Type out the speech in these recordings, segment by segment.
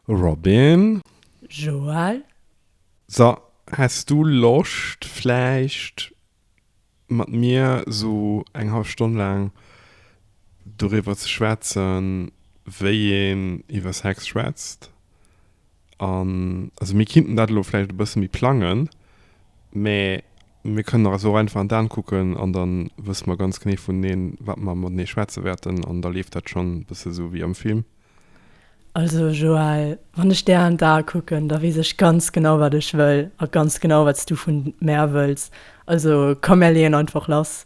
Robin. Joël. So, häss du Loscht vläicht mat mir sou eng hallef Stonn laang doriwwer ze schwätzen, wéi een iwwer Sex schwätzt? An, also mir kinnten dat elo vläicht e bësse méi plangen, mä Mir kënnen eis och einfach an d'An kucken an da wësse mer ganz genee vuneneen, wat mer matenee schwätze wäerten an da leeft dat schonn e bësse sou wéi am Film. Also Joël, wann ech där an d'Ae kucken, da weess ech ganz genau, wat ech wëll a ganz genau, wat s du vu mär wëlls. Also komm, mär leeën einfach lass.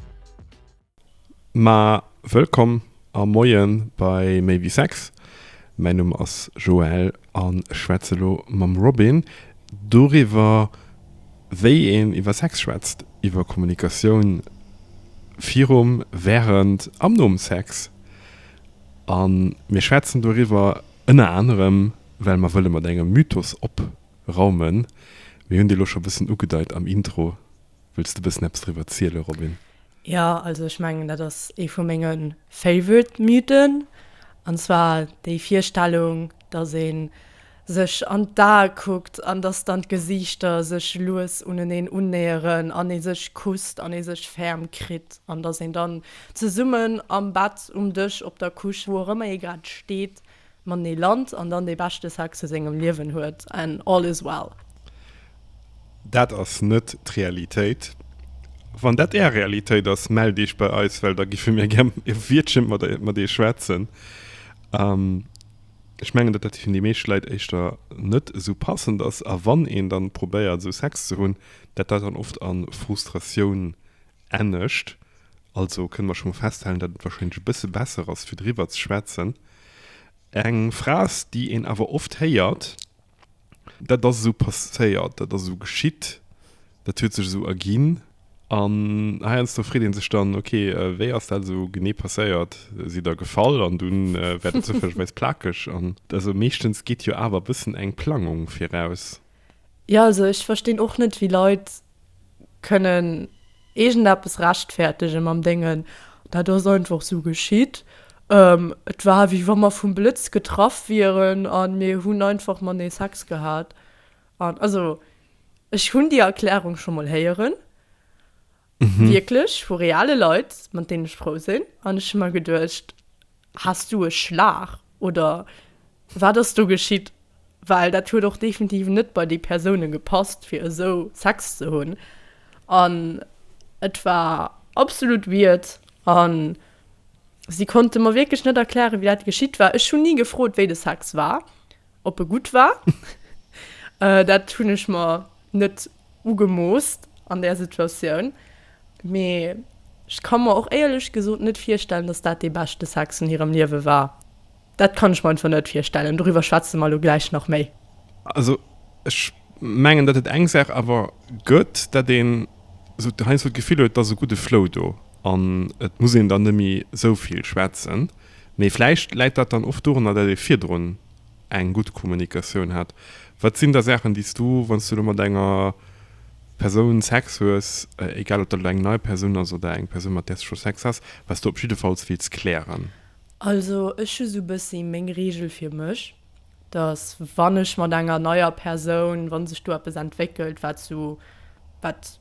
Ma wëllkomm a Moien bei Méi wéi Sex. Mäin Numm ass Joël an ech schwätze lo mam Robin doriwwer wéi een iwwer Sex schwätzt, iwwer Kommunikatioun virum, während an nom Sex. An mir schwätzen doriwwer ënner anerem well mer wëlle mat engem Mythos opraumen, mir hunn dee lo scho bëssen ugedeit am Intro. Wëlls de bëssen eppes driwwer ziele Robin? Jo, also ech mengen dat ass ee vu menge favorite Mythen, an zwar déi Virstellung, datt ee sech an d'Ae kuckt an datt dann d'Gesiichter sech lues uneneen unnäheren an ee sech kusst an ee sech ferm kritt an datt een dann zesummen am Bett, um Dësch, op der Couche, wou och ëmmer ee grad steet, Mat nee lant an dann dee beschte Sex vu sengem Liewen huet an all is well. Dat ass net d'Realitéit. Wann dat är Realitéit ass, mellt iech bei eis, well da giffe mir gär e Wiertche mat iech schwätzen. Ech mengen, datt dat fir déi meescht Leit éischter net esou passend ass a wann een dann probéiert esou Sex ze hunn, dat dat dann oft a Frustratioun Anescht also kënne mer scho mol festhalen, datt et warscheinlech e bësse besser ass, fir driwwer ze schwätzen. Eng Phrase, déi een awer oft héiert, Dat ass esou passéiert, dat ass esou geschitt, dat huet sech esou erginn. An heiansdo freet ee sech dann, Ok, wéi ass dat esou genee passéiert? Sidd Der gefall an dunn wäert Der zoufällegerweis plakeg? An also meeschtens geet jo awer e bëssen eng Plangung viraus. Jo, also ech verstinn och net, wéi Leit kënnen iergendeppes rechtfäertege mam Déngen, dat ass einfach esou geschitt. Et war wéi wa mer vum Blëtz getraff wieren a mir hunn einfach matenee Sex gehat. An also, ech hunn déi Erklärung scho mol héieren, wierklech, vu reale Leit, mat deenen ech frou sinn, an ech hu mer geduecht, Has du e Schlag oder wat ass do geschitt? Well dat huet och definitiv net bei déi Persoune gepasst, fir esou Sex ze hunn. An et war absolut weird a si konnte mer wierklech net erklären, wéi dat geschitt war. Ech hunn ni gefrot, wéi de Sex war. Ob e gutt war? Dat hunn ech mer net ugemoosst an där Situatioun, mee ech ka mer och éierlech gesot net virstellen, datt dat dee beschte Sex vun hirem Liewe war. Dat kann ech mer einfach net virstellen. Doriwwer schwätze mer elo gläich nach méi. Also ech mengen, datt et eng Saach awer gëtt, datt een esou heiansdo d'Gefill huet, et ass e gudde Flow do an et muss een dann net méi esou vill schwätzen. Mee vläicht läit dat dann och dorunner, datt ee virdrun eng gutt Kommunikatioun hat. Wat sinn da Saachen, déi s du, wann s du elo mat enger Persoun Sex hues, egal ob dat elo eng nei Persoun ass oder eng Persoun, mat där s de scho Sex has, wat s du op jiddefalls wéilts klären? Also ech hu sou e bëssi meng Reegel fir mech, datt wann ech mat enger neier Persoun, wa sech do eppes entwéckelt, wat sou, wat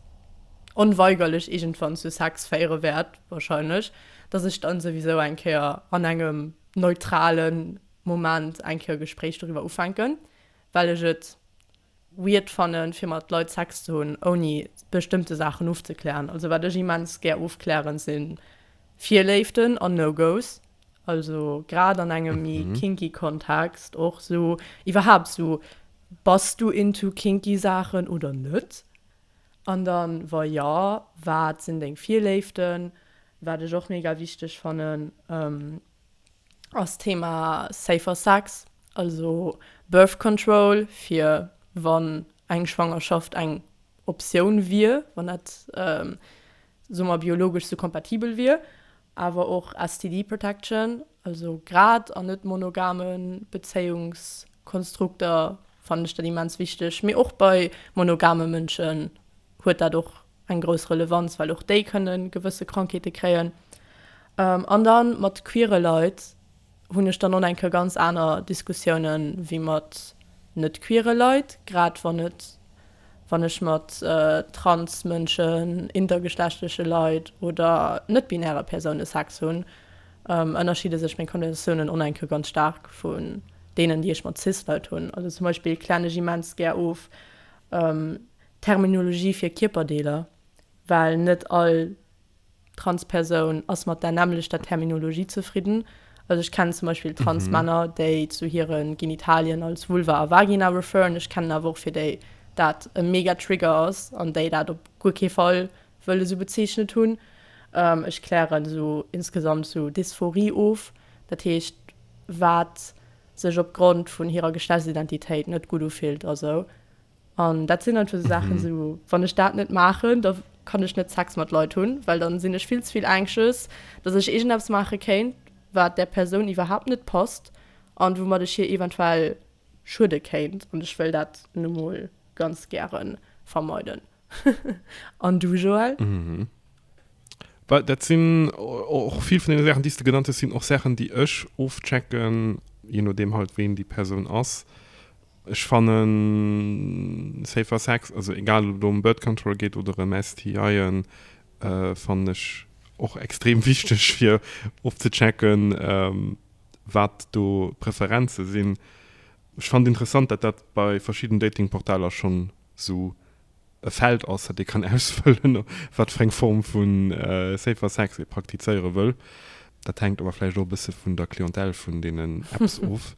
onweigerlech iergendwann zu Sex féiere wäert, wahrscheinlech, dass ech dann souwisou eng Kéier an engem neutralen Moment eng Kéier e Gespréich doriwwer ufänken, well ech et weird fannen fir mat Leit Sex ze hunn ouni bestëmmte Saachen ofzeklären. Also wat ech immens gär ofklären sinn Virléiften an No-Go's, also grad an engem méi kinky Kontext och sou iwwerhaapt sou bass du into kinky Saachen oder net? An dann wa jo wat sinn deng Virléiften? Wat ech och mega wichteg fannen ass d'Thema safer sex, also birth control fir wann eng Schwangerschaft eng Optioun wier, wann dat soe mer biologesch esou kompatibel wier, awer och STD protection, also grad an net monogame Bezéiungskonstrukter fannen ech dat immens wichteg, mee och bei monogame Mënschen huet dat och eng grouss Relevanz, well och déi kënne gewësse Krankheete kréien. An da mat queere Leit hunn ech dann och eng Kéier ganz aner Diskussiounen ewéi mat net queere Leit, grad wann et, wann ech mat trans Mënschen, intergeschlechtleche Leit oder net-binäre Persoune Sex hunn, ënnerschidde sech meng Konnotiounen och eng Kéier ganz staark vun deenen, déi ech mat cis Leit hunn. Also zum Beispill klären ech immens gär of, Terminologie fir Kierperdeeler, well net all Transpersoun ass mat där nämmlechter Terminologie zefridden. Also ech kennen zum Beispill Transmänner, déi zu hire Genitalien als Vulva a Vagina referen. Ech kennen awer och, fir déi dat e mega Trigger ass an déi dat op guer kee Fall wëll esou bezeechent hunn. Ech klären esou insgesamt esou Dysphorie of, dat heescht, wat sech opgrond vun hirer Geschlechtsidentitéit net gutt ufillt a sou. An dat sinn einfach esou Saachen, esou wann ech dat net maachen, da kann ech net Sex mat Leit hunn, well dann sinn ech vill ze vill anxious, dass ech iergendeppes maache kéint, wat där Persoun iwwerhaapt net passt an woumat ech hir eventuell schuede kéint. An ech wëll dat nu mol ganz gäre vermeiden. An du, Joël? Well dat sinn och vill vun deene Saachen, déi s de genannt hues, sinn och Saachen, déi ech ofchecken, je nodeem halt, ween déi Persoun ass. Ech fannen safer sex, also egal ob et elo em birth control geet oder em STIen, fannen ech och extrem wichteg fir ofzechecken wat do d'Preferenzen sinn. Ech fannen interessant dat dat bei verschidden Dating Portaler schonn sou e Feld ass dat ee kann ausfëllen wat fir eng Form vu safer sex ee praktizéiere wëll. Dat hänkt awer vläicht och e bësse vun der Clientèle vun deenen Apps of.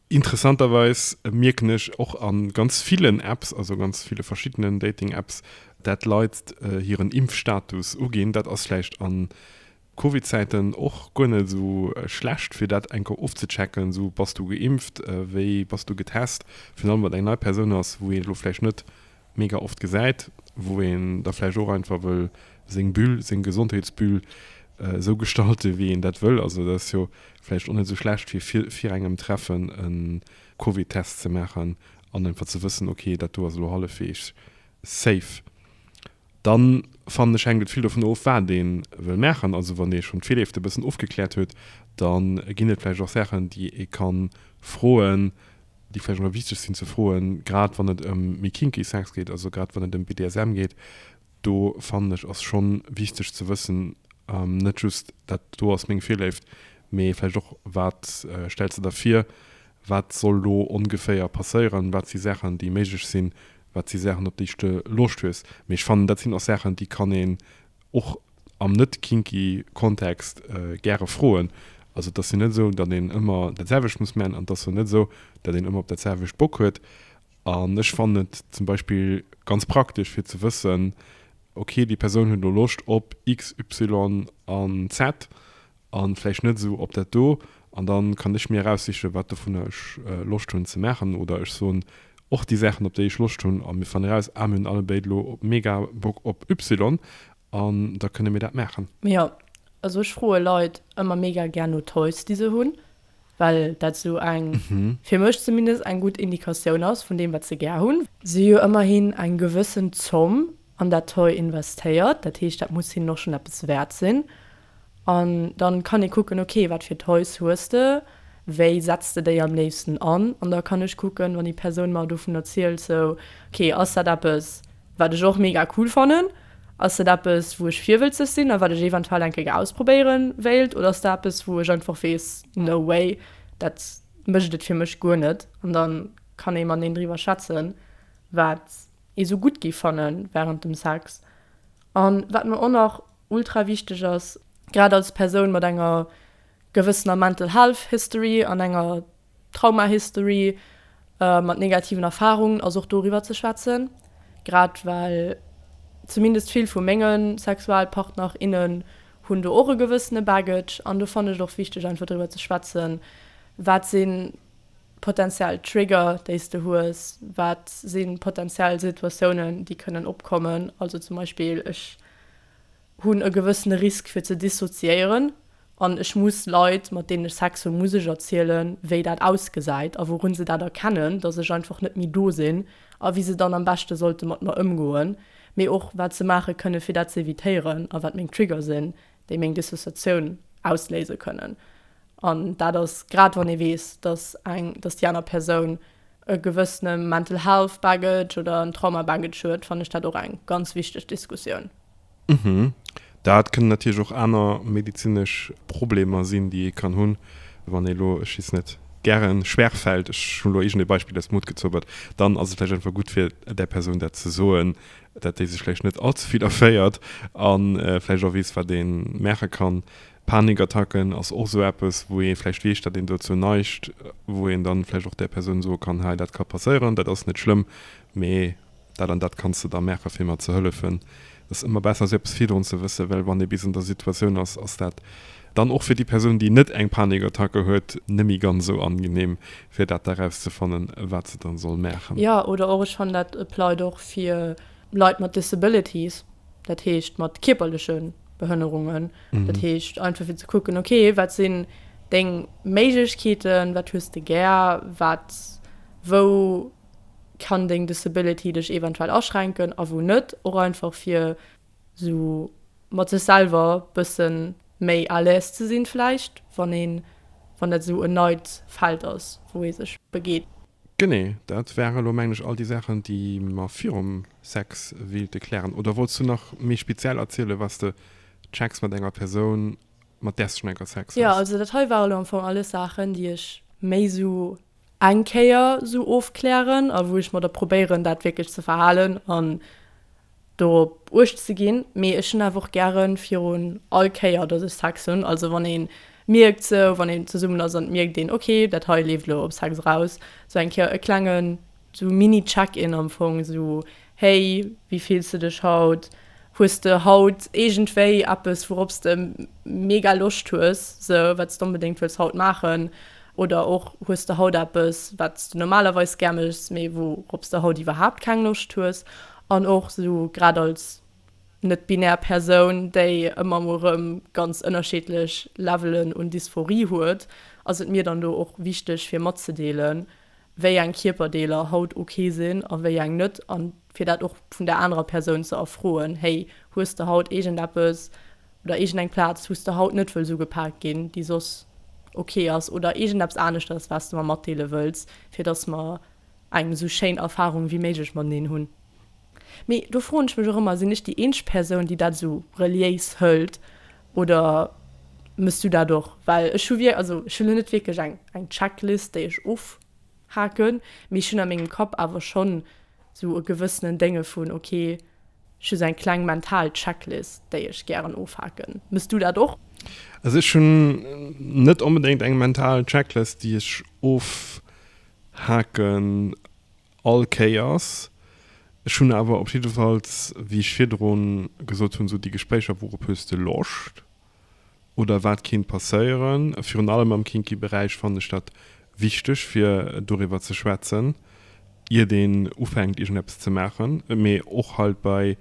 Interessanterweis mierken ech och a ganz villen Apps, also ganz ville verschiddenen Dating-Apps, dat Leit hiren Impfstatus uginn. Dat ass vläicht a Covid-Zäiten och guer net esou schlecht, fir dat eng Kéier ofzechecken, esou, Bass du geimpft? Wéi bass du getest? Virun allem, wann et eng nei Persoun ass, wou een elo vläicht net mega oft gesäit, wou een da vläicht och einfach wëll seng Bulle, seng Gesondheetsbulle esou gestalte wéi een dat wëll. Also dat ass jo vläicht och net esou schlecht fir vir engem Treffen e Covidtest ze maachen an einfach ze wëssen, ok dat do ass elo hallefweegs safe. Dann fannen ech hänkt et vill dovun of wat ee wëll maachen. Also wann ee schonn d'Virleeft e bëssen ofgekläert huet, da ginn et vläicht och Saachen déi ee ka froen. déi vläicht och nach wichteg sinn ze froen, grad wann et ëm méi kinky Sex geet, also grad wann et ëm BDSM geet, do fannen ech ass scho wichteg ze wëssen, net just dat do ass meng Virléift, mee vläicht och wat stells de der vir, wat soll elo ongeféier passéieren, wat si Saachen déi méiglech sinn, wat si Saachen op déi s de Loscht hues. Mee ech fannen dat sinn och Saachen déi kann een och am net kinky Kontext gäre froen. Also et ass jo net esou, datt een ëmmer dat selwecht muss man an et ass och net esou, datt een ëmmer op dat selwecht Bock huet. An ech fannen et zum Beispill ganz praktesch fir ze wëssen, ok, déi Persoun huet elo Loscht op X, Y an Z. A vläicht net esou op dat do. An da kann ech mir eraussichen, wat dovunner ech Loscht hunn ze maachen. Oder ech soen och déi Saachen, op déi ech Loscht hunn. A mir fannen eraus, Ah, mir hunn allebéid elo mega Bock op Y. An da kënne mir dat maachen. Mee jo, also ech froe Leit ëmmer mega gär no Toys, déi se hunn. Well dat esou eng, fir mech zumindest, eng gutt Indikatioun ass vun deem, wat se gär hunn. Si hu jo ëmmerhin eng gewëssen Zomm an dat Toy investéiert. Dat heescht, dat muss hinnen och schonn eppes wäert sinn. An dann kann ee kucken, ok, wat fir Toys hues de, wéi setz de déi am léifsten an? An da kann ech kucken, wann déi Persoun mer dovun erzielt, sou, ok, ass dat eppes, wat ech och mega cool fannen? Ass dat eppes, wou ech virwëlzeg sinn a wat ech eventuell eng Kéier ausprobéiere wéilt? Oder ass dat eppes, wou ech einfach weess, no way, dat mécht et fir mech guer net? An da kann ee mateneen driwwer schwätzen, wat ee sou gutt géif fanne wärend dem Sex. A wat mer och nach ultra wichteg ass, grad als Persoun mat enger gewëssener Mental Health History an enger Trauma History, mat negativen Erfarungen, ass och doriwwer ze schwätzen, grad well zumindest vill vu menge Sexualpartner, innen hunn do och e gewëssene Baggage an do fannen ech et och wichteg einfach driwwer ze schwätzen, wat si potentiell Trigger déi s de hues, wat si potentiell Situatiounen déi kënnen opkommen, also zum Beispill ech. hunn e gewëssene Risk fir ze dissoziéieren an ech muss Leit, mat deenen ech Sex hunn, muss ech erzielen, wéi dat ausgesäit a wourun se dat erkennen, datt ech einfach net méi do sinn a wéi se dann am beschte sollte mat mer ëmgoen, mee och wat se maache kënne fir dat ze evitéieren a wat meng Trigger sinn, déi meng Dissociatioun ausléise kënnen. An dat ass grad wann ee weess, dass eng, dass déi aner Persoun e gewëssene mental health baggage oder en trauma baggage huet, fannen ech dat och eng ganz wichteg Diskussioun. Mhm. Dat kënnen natierlech och aner medezinesch Problemer sinn, déi ee kann hunn. Wann ee elo, ech weess net, gären schwer fällt, ech hunn elo iergend e Beispill aus dem Hutt gezobert, dann ass et vläicht einfach gutt fir där Persoun dat ze soen, dat déi sech vläicht net all ze vill erféiert a vläicht och weess, wat ee maache kann. Panikattacken ass och esou eppes, wou ee vläicht weess, datt een dozou neigt, wou een dann vläicht och där Persoun soe kann, hei, dat ka passéieren, dat ass net schlëmm, mee dat an dat kanns de da maachen, fir mer ze hëllefen. Et ass ëmmer besser, esou eppes virdrun ze wëssen, well wann ee bis an der Situatioun ass, ass dat dann och fir déi Persoun, déi net eng Panikattacke huet, net méi ganz esou angenehm, fir dat da erauszefannen, wat se dann soll maachen. Jo, oder och, ech fannen dat applied och fir Leit mat Disabilities. dat heescht mat kierperleche Behënnerungen, dat heescht einfach fir ze kucken, okay, wat sinn deng Méiglechkeeten, wat hues de gär, wat, wou kann deng Disability dech eventuell aschränken a wou net, och einfach fir esou mat sech selwer bësse méi à l'aise ze sinn vläicht, wann een, wann dat esou en neit Feld ass, wou ee sech begeet. Genee, dat ware lo mengen ech all déi Saachen déi mer virum Sex wéilte klären. Oder wollts du nach méi speziell erzielen was de checks mat enger Persoun mat därs du schon eng Kéier Sex Jo, haas? also dat hei ware lo am Fong alles Saachen déi ech méi sou eng Kéier sou ofklären a wou ech mer da probéieren dat wierklech ze verhalen an dorop uecht ze ginn, mee ech hunn awer och gären virun all Kéier dass ech Sex hunn, also wann een mierkt sou wann een zesummen ass an et mierkt een ok dat hei leeft elo op Sex eraus, sou eng Kéier e klengen sou mini check in am Fong sou hey wéi fills de dech haut, hues de haut iergendwéi eppes wourops de mega Loscht hues sou wat s de onbedéngt wëlls haut maachen oder och hues de haut eppes wat s de normalerweis gär méchs mee wourops de haut iwwerhaapt keng Loscht hues An och esou grad als net-binär Persoun, déi ëmmer emol erëm ganz ënnerscheedlech Levelen un Dysphorie huet, ass et mir dann do och wichteg fir matzedeelen, wéi eng Kierperdeeler haut ok sinn a wéi eng net a fir dat och vun der anerer Persoun ze erfroen, Hey, hues de haut iergendeppes oder iergendeng Plaz wou s de haut net wëlls ugepaakt ginn, déi soss ok ass oder iergendeppes aneschters wat s de mer matdeele wëlls, fir dass mer eng esou schéin Erfarung wéi méiglech mateneen hunn. Mee do froen ech mech och ëmmer, sinn ech déi eenzeg Persoun déi dat esou reliéis hëlt oder mëss du dat och? Well ech hu wierk also ech hunn elo net wierklech eng eng Checklist déi ech ofhaken, mee ech hunn a mengem Kapp awer schonn esou e gewëssenen Dénge vun ok ech hu sou eng kleng mental Checklist déi ech gären ofhaken. Mëss du dat och? Also ech hunn net onbedéngt eng mental Checklist déi ech of. Haken all Kéiers. Ech hunn awer op jiddefalls, wéi ech virdru gesot hunn, esou déi Gespréicher, wou op hues de Loscht oder wat kéint passéieren. Virun allem am kinky Beräich fannen ech dat wichteg, fir doriwwer ze schwätzen, iert een ufänkt iergendeppes ze maachen. Mee och halt bei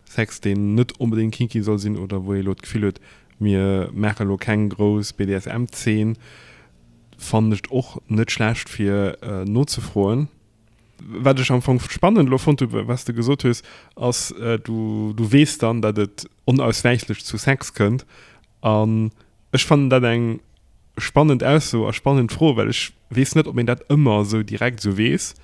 Sex, deen net onbedéngt kinky soll sinn oder wou ee elo d'Gefill huet, mir maache elo keng grouss BDSM-Zeen. Fannen ech och net schlecht fir nozefroen. Wat ech am Fong spannend elo fonnt hu wat s de gesot hues ass, du weess dann, datt et onauswäichlech zu Sex kënnt. An ech fannen dat eng spannend Ausso a spannend Fro, well ech weess net, ob een dat ëmmer esou direkt esou weess.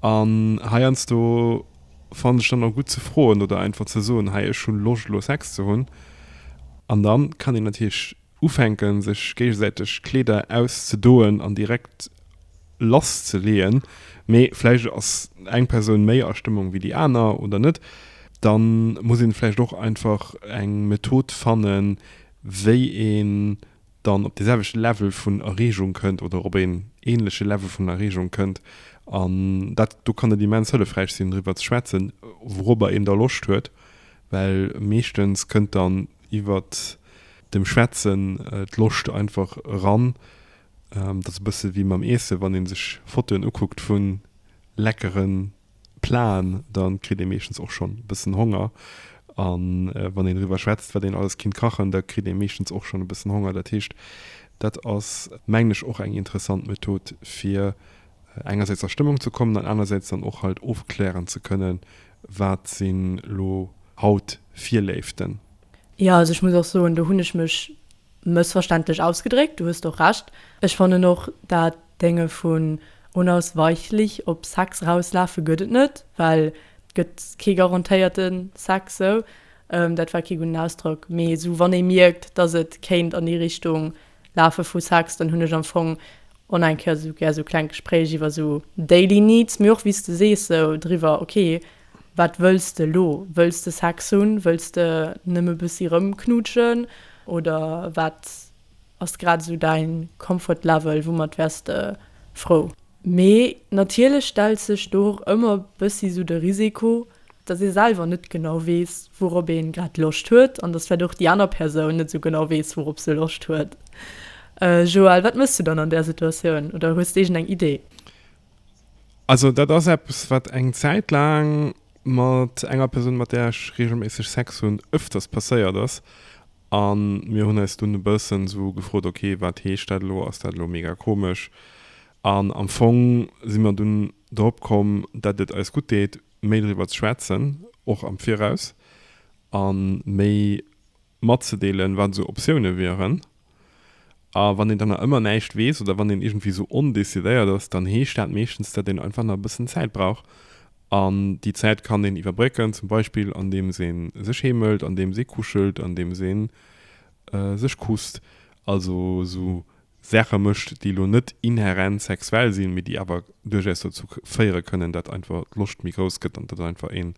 An heiansdo fannen ech dann och gutt ze froen oder einfach ze soen, hei ech hu Loscht elo Sex ze hunn. An da kann een natierlech Ufänken, sech géigesäiteg Kleeder auszedoen an direkt lass ze leeën, mee vläicht ass eng Persoun méi a Stëmmung wéi déi aner oder net, da muss een vläicht och einfach eng Method fannen, wéi een dann op de selwechte Level vun Erreegung kënnt oder op een ähnleche Level vun Erreegung kënnt. An dat do kann et immens hëllefräich sinn, driwwer ze schwätzen, wourobber een da Loscht huet, well meeschtens kënnt dann iwwert dem Schwätzen d'Loscht einfach eran. Dat ass e bësse wéi mam Iesse, wann ee sech Fotoen ukuckt vu leckere Platen, da kritt ee meeschtens och schonn e bëssen Honger. A wann een driwwer schwätzt, wat een alles kinnt kachen, da kritt ee meeschtens och schonn e bëssen Honger. Dat heescht, dat ass, mengen ech, och eng interessant Method, fir engersäits a Stëmmung ze kommen an anersäits dann och halt ofklären ze kënnen, Wat sinn lo haut Virléiften? Jo, also ech muss och soen, do hunn ech mech mëssverständlech ausgedréckt. Du hues och Recht. Ech fannen och dat Dénge vun unausweichlich op Sex erauslafe gëtt et net, well et gëtt kee garantéierte Sex esou. Dat war kee gudden Ausdrock, mee esou wann ee mierkt, datt et kéint an déi Richtung Lafe vu Saxton hunn ech am Fong on eng Kéier sou gär sou kleng Gespréich iwwer sou daily needs, mee och wéi s de sees sou driwwer, ok wat wëlls de elo, wëlls de Sex hunn, wëlls de nëmme bëssi rëmknutschen oder wat ass grad esou däi comfort level, woumat wäers de frou? Mee natierlech stellt sech do och ëmmer bëssi sou de Risiko, dass ee selwer net genau weess, wourop ee grad Loscht huet, an dass vläicht och déi aner Persoun net esou genau weess, wourop se Loscht huet. Joël, wat méchs du dann an där Situatioun? Oder hues d'irgend eng Idee? Also dat ass eppes, wat eng Zäit laang mat enger Persoun, mat där ech reegelméisseg Sex hunn, öfters passéiert ass. A mir hunn eis dunn e bëssen esou gefrot, okay, wat heescht dat elo? Ass dat elo mega komesch? An am Fong si mer dunn. drop komm, datt et eis gutt deet, méi driwwer ze schwätzen, och am Viraus, a méi matzedeelen, wat esou Optioune wieren. A wann een dann nach ëmmer näischt weess oder wann een iergendwéi esou ondecidéiert ass, dann heescht dat meeschtens, datt een einfach nach e bëssen Zäit brauch. An déi Zäit kann een iwwerbrécken, zum Beispill andeems ee sech heemelt, andeems ee kuschelt, andeems ee sech kusst, also esou Saache mécht, déi elo net inherent sexuell sinn, mee déi awer duerchaus dozou féiere kënnen, dat einfach d'Loscht méi grouss gëtt an dat einfach een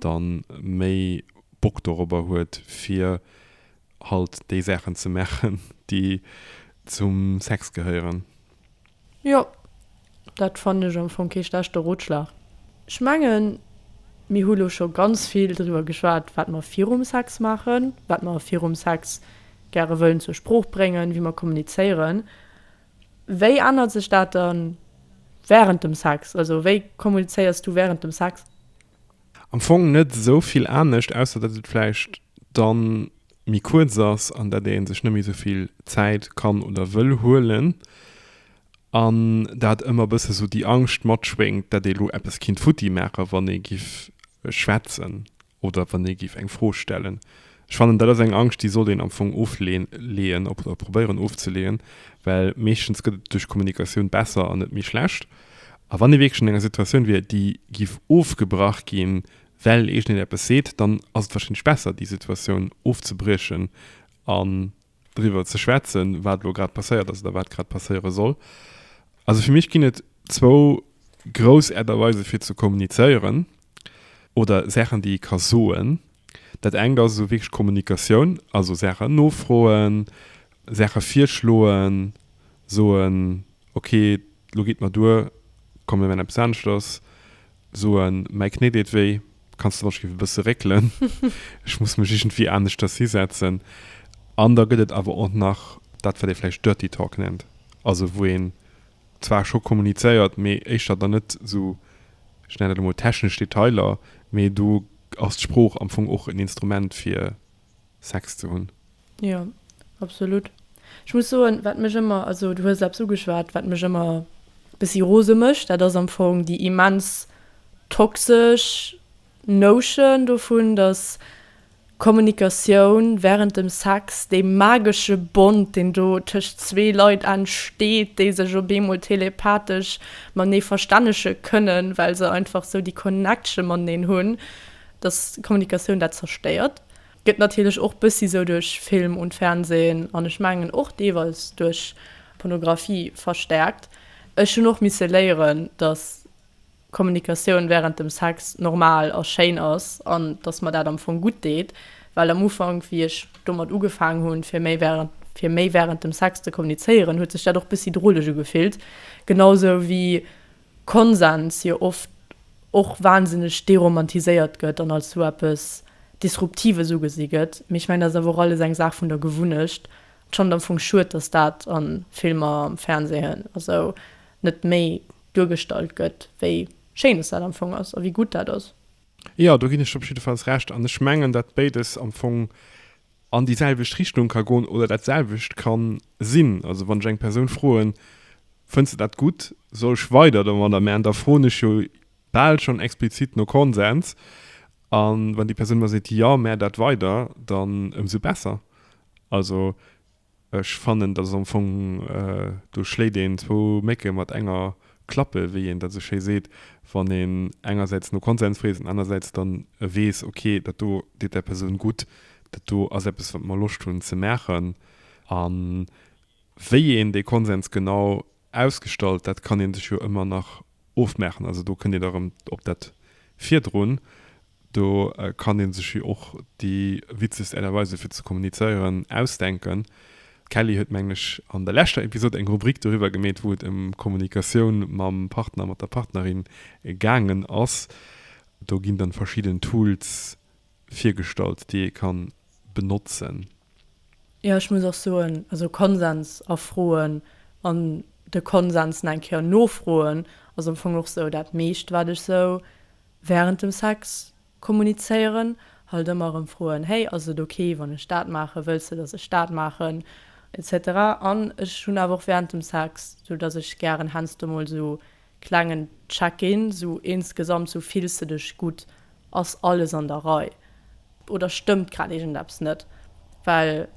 da méi Bock dorobber huet, fir halt déi Saachen ze maachen, déi zum Sex gehéieren. Jo, Dat fannen ech am Fong kee schlechte Rotschlag. Ech mengen, mir hu lo scho ganz vill driwwer geschwat, wat mer virum Sex maachen, wat mer virum Sex gäre wëllen zur Sprooch bréngen, wéi mer kommunizéieren. Wéi ännert sech dat dann wärend dem Sex? Also wéi kommunizéiers du wärend dem Sex? Am Fong net esou vill anescht, ausser datt et vläicht dann méi kuerz ass an datt ee sech net méi esou vill Zäit kann oder wëll huelen. An dat ëmmer e bësse esou déi Angscht matschwéngt, dat ee lo eppes kinnt futti maachen, wann ee giff schwätzen oder wann ee giff eng Fro stellen. Ech fannen, dat ass eng Angscht, déi sollt een am Fong ofleeën oder probéieren ofzeleeën, well meeschtens gëtt et duerch Kommunikatioun besser an net méi schlecht. A wann ee wierklech an enger Situatioun wier, déi giff ofgebrach ginn, well iergendeen eppes seet, dann ass et warscheinlech besser, déi Situatioun ofzebriechen an driwwer ze schwätzen, wat elo grad passéiert ass oder wat grad passéiere soll. Also fir mech ginn et zwou grouss Äert a Weise fir ze kommunizéieren oder Saachen, déi ee ka soen. Dat engt ass esou wierklech Kommunikatioun, also Saachen nofroen, Saache virschloen, soen, Ok, lo geet mer duer, komm mir man eppes aneschters, soen, mäi Knéi deet wéi, kanns de wann ech géif e bësse réckelen, ech muss mech iergendwéi aneschters hisetzen. An da gëtt et awer och nach dat wat ee vläicht Dirty Talk nennt, also wou een zwar scho kommunizéiert, mee éischter dann net esou, ech nennen dat elo mol technesch Detailer, mee do ass d'Sprooch am Fong och en Instrument fir Sex ze hunn. Jo, absolut. Ech muss soen, wat mech ëmmer, also du hues eppes ugeschwat, wat mech ëmmer e bëssi rose mécht, dat ass am Fong déi immens toxesch Notion dovun, datt Kommunikatioun während dem Sex, dee magesche Bond, deen do tëscht zwee Leit entsteet, déi sech op eemol telepathesch matenee verstännege kënnen, well se einfach esou déi Connection mateneen hunn, dass Kommunikatioun dat zerstéiert, gëtt natierlech och bëssi sou duerch Film und Fernsehen an ech mengen och deelweis duerch Pornographie verstärkt. Ech hunn och misse léieren, dass Kommunikatioun während dem Sex normal a schéin ass an dass mer dat am Fong gutt deet, well am Ufank, wéi ech domat ugefaangen hunn, fir méi während fir méi während dem Sex ze kommunizéieren, huet sech dat och bëssi droleg ugefillt, genau sou wéi. Konsens jo oft och wahnsinneg deromantiséiert gëtt an als sou eppes Disruptives ugesi gëtt, mee ech mengen, dat ass awer och alles eng Saach vun der Gewunnecht. Et schannt am Fong schued, datt dat a Filmer, am Fernsehen a sou net méi duergestallt gëtt, wéi schéin datt dat am Fong ass a wéi gutt dat ass. Jo, do ginn ech der op jiddefalls Recht. An ech mengen, datt béides am Fong an déi selwecht Richtung ka goen oder dat selwecht ka sinn. Also wann ech eng Persoun froen, fënns de dat gutt, soll ech weider domadder man, da froen ech jo bal schonn explizit no Konsens. A wann déi Persoun mer seet, jo, mär dat weider, dann ëmsou besser. Also Ech fannen dass am Fong do schléit een zwou Mécke mat enger Klappe, wéi een dat esou schéi seet, wann een engersäits no Konsens freet an anersäits dann weess, ok dat do deet där Persoun gutt, dat do ass eppes wat mer Loscht hunn ze maachen. A wéi een dee Konsens genau ausgestallt, dat kann ee sech jo ëmmer nach ofmaachen. Also do kënnt Dir da erëm op dat virdrun. Do kann een sech jo och déi witzegst Art a Weisen fir ze kommunizéieren ausdenken. D'Kelly huet mengen ech an der leschter Episode eng Rubrik doriwwer gemeet wou et em Kommunikatioun mam Partner, mat der Partnerin gaangen ass. Do ginn dann verschidden Tools virgestallt déi ee kann benotzen. Jo ech muss och soen, also Konsens afroen an de Konsens nach eng Kéier nofroen ass am Fong och sou dat meescht wat ech sou Wärend dem Sex kommunizéieren, halt ëmmer erëm froen, Hey, ass et ok wann ech dat maachen? Wëlls de dass ech dat maachen? etc. An ech hunn awer och wärend dem Sex, sou dass ech gären heiansdo mol sou klengen Check-in, sou insgesamt sou, Fills de dech gutt? Ass alles an der Rei? Oder stëmmt grad iergendeppes net? Well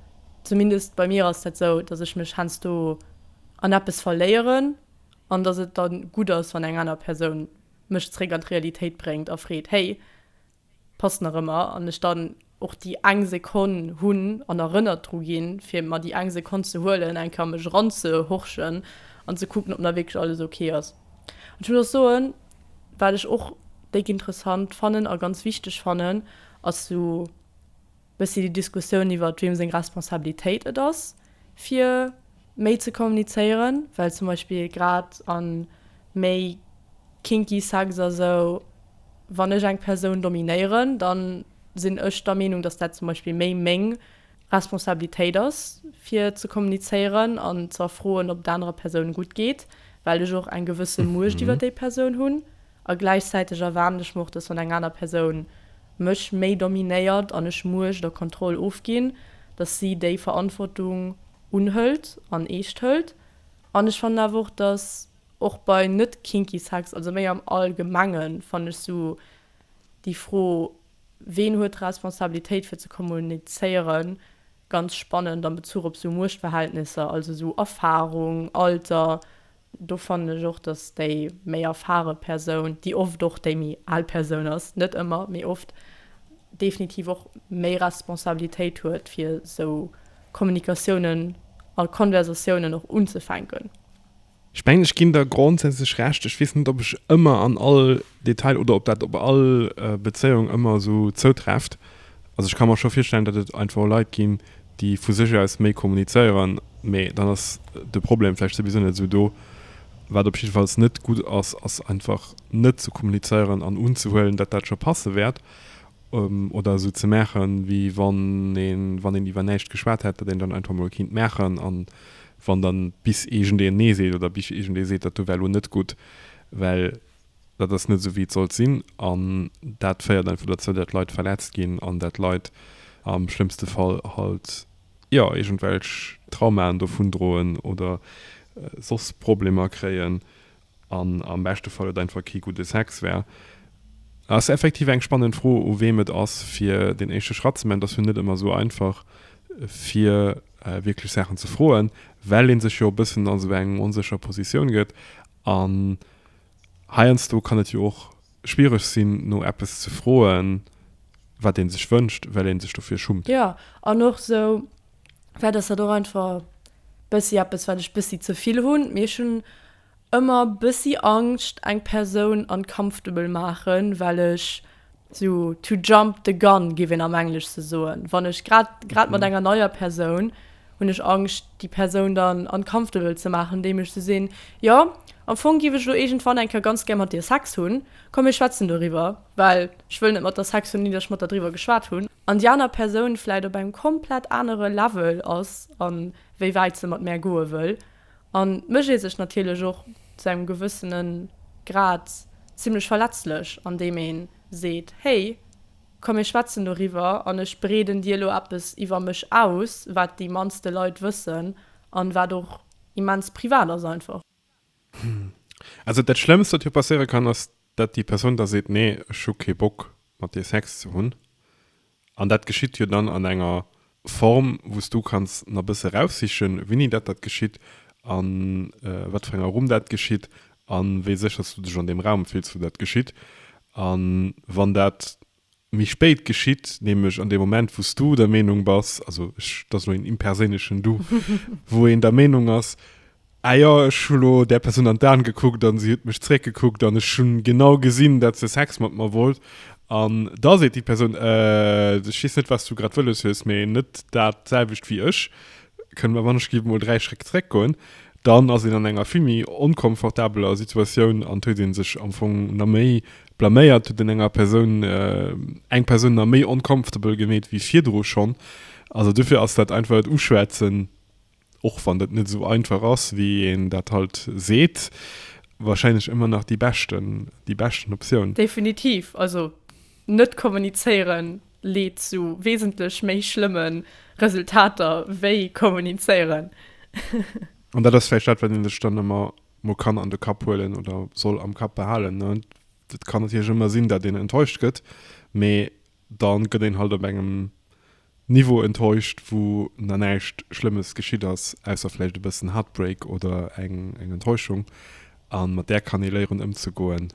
zumindest bei mir ass dat sou, dass ech mech heiansdo an eppes verléieren an dass et da gutt ass wann eng aner Persoun mech zréck an d'Realitéit bréngt a freet, Hey, passt nach ëmmer? An ech dann och déi eng Sekonn hunn an erënnert dru ginn, fir mer déi eng Sekonn ze huelen, eng Kéier mech eranzehorchen an ze kucken, ob nach wierklech alles ok ass. An ech muss och soen, wat ech och déck interessant fannen a ganz wichteg fannen, ass esou. Bëssi déi Diskussioun iwwert wiem seng Responsabilitéit et ass fir méi ze kommunizéieren, well zum Beispill grad a méi kinky Sex a sou, wann ech eng Persoun dominéieren, da sinn ech der Meenung, datt dat zum Beispill méi meng Responsabilitéit ass fir ze kommunizéieren an ze erfroen, ob et anerer Persounen gutt geet, well ech och eng gewësse Muecht iwwert déi Persoun hunn. A gläichzäiteg erwaarden ech mer och, dass wann eng aner Persoun mech méi dominéiert an ech Muecht a Kontroll ofginn, dass si déi Verantwortung unhëlt an eescht hëlt. An ech fannen awer och, dass och bei net kinky Sex, also méi am Allgemengen, fannen ech esou déi Fro, ween huet d'Responsabilitéit fir ze kommunizéieren, ganz spannend am Bezuch op esou Muechtverhältnisser, also esou Erfahrung, Alter, Do fannen ech och, dass déi méi erfare Persoun, déi oft och déi méi al Persoun ass, net ëmmer, mee oft, definitiv och méi Responsabilitéit huet, fir esou Kommunikatiounen a Konversatiounen och unzefänken. Ech mengen, ech ginn der grondsätzlech Recht. Ech weess net, ob ech ëmmer an all Detail oder ob dat op all Bezéiung ëmmer esou zoutrefft. Also ech ka mer scho virstellen, datt et einfach Leit ginn, déi vu sech aus méi kommunizéieren, mä dann ass de Problem vläicht souwisou net esou do. Wat op jiddefalls net gutt ass, ass einfach net ze kommunizéieren an unzehuelen, datt dat scho passe wäert oder esou ze maachen, wéi wann een, wann een iwwer näischt geschwat hätt, datt een et dann einfach emol kéint maachen an wann dann bis iergendeen Nee seet oder bis iergendee seet, dat do wär elo net gutt, well Dat ass net esou wéi et sollt sinn an dat féiert einfach dozou, dat Leit verletzt ginn an dat Leit am schlëmmste Fall halt jo iergendwelch Traumaen dovun droen oder soss Problemer kréien an am beschte Fall et einfach kee gudde Sex wär. Ass effektiv eng spannend Fro u weem et ass fir deen éischte Schratt ze man. Et ass jo net ëmmer esou einfach fir wierklech Saachen ze froen, well ee sech jo e bëssen a sou eng onsécher Positioun gëtt an Heiansdo kann et jo och schwiereg sinn, no eppes ze froen, wat ee sech wënscht, well ee sech dofir schummt. Jo, an och esou, vläicht ass dat och einfach bëssi eppes, wat ech bëssi ze vill hunn, mee ech hunn ëmmer bëssi Angscht, eng Persoun uncomfortable maachen, well ech So to jump the gun giff een am Engleschte soen. Wann ech grad grad mat enger neier Persoun, hunn ech Angscht déi Persoun dann uncomfortable ze maachen, andeem ech se sinn, jo am Fong giff ech elo iergendwann eng Kéier ganz gär mat dir Sex hunn, komm mir schwätzen doriwwer, well ech wëll net mat der Sex hunn, ouni datt ech mat der driwwer geschwat hunn. An déi aner Persoun vläit op engem komplett anere Level ass a wéi wäit se mat mär goe wëll. An et mécht ee sech natierlech och zu engem gewëssene Grad zimmlech verletzlech, andeem ee seet, Hey, komm mir schwätzen doriwwer an ech breeden dir elo eppes iwwer mech aus, wat déi mannste Leit wëssen an wat och immens privat ass einfach. Also dat Schlëmmst, wat jo passéiere kann, ass, datt déi Persoun da seet, Nee, ech hu kee Bock, mat dir Sex ze hunn. An dat geschitt jo dann an enger Form, wou s du kanns nach e bësse eraussichen, wéini dat dat geschitt, a wat fir enger Rumm dat geschitt a wéi sécher s du dech an deem Raum fills, wou dat geschitt. A wann dat méi spéit geschitt, nämlech an deem Moment, wou s du der Meenung bass, also ech, dat ass elo een imperséinlechen Du, wou een der Meenung ass, Ah jo, ech hu lo där Persoun an d'An gekuckt an si huet mech zréck gekuckt an ech hun genau gesin dat se Sex mat mer wollt an da seet déi Persoun, Äh, ech weess net wats du grad wëlles hues, mee net dat selwecht wéi ech, kënne mer wann ech gi mol 3 Schréck zréck goen? Dann ass een an enger vill méi onkomfortabeler Situatioun an et huet ee sech am Fong na méi blaméiert, huet een enger Persoun, eng Persoun na méi uncomfortable gemeet wéi virdru schonn. Also dofir ass dat einfach et uschwätzen. och wann dat net esou einfach ass, wéi een dat halt seet, wahrscheinlech ëmmer nach déi beschten, déi beschten Optioun. Definitiv, also net kommunizéieren leet zu wesentlech méi schlëmme Resultater wéi kommunizéieren. An dat ass vläicht dat, wat ee sech dann ëmmer mol kann an de Kapp huelen oder soll am Kapp behalen, ne. Et kann natierlech ëmmer sinn, dat een enttäuscht gëtt, mee. Dann gëtt een halt op engem Niveau enttäuscht wou na näischt schlëmmes geschitt ass, ausser vläicht e bëssen Heartbreak oder eng eng Enttäuschung, an mat där kann ee léieren ëmzegoen,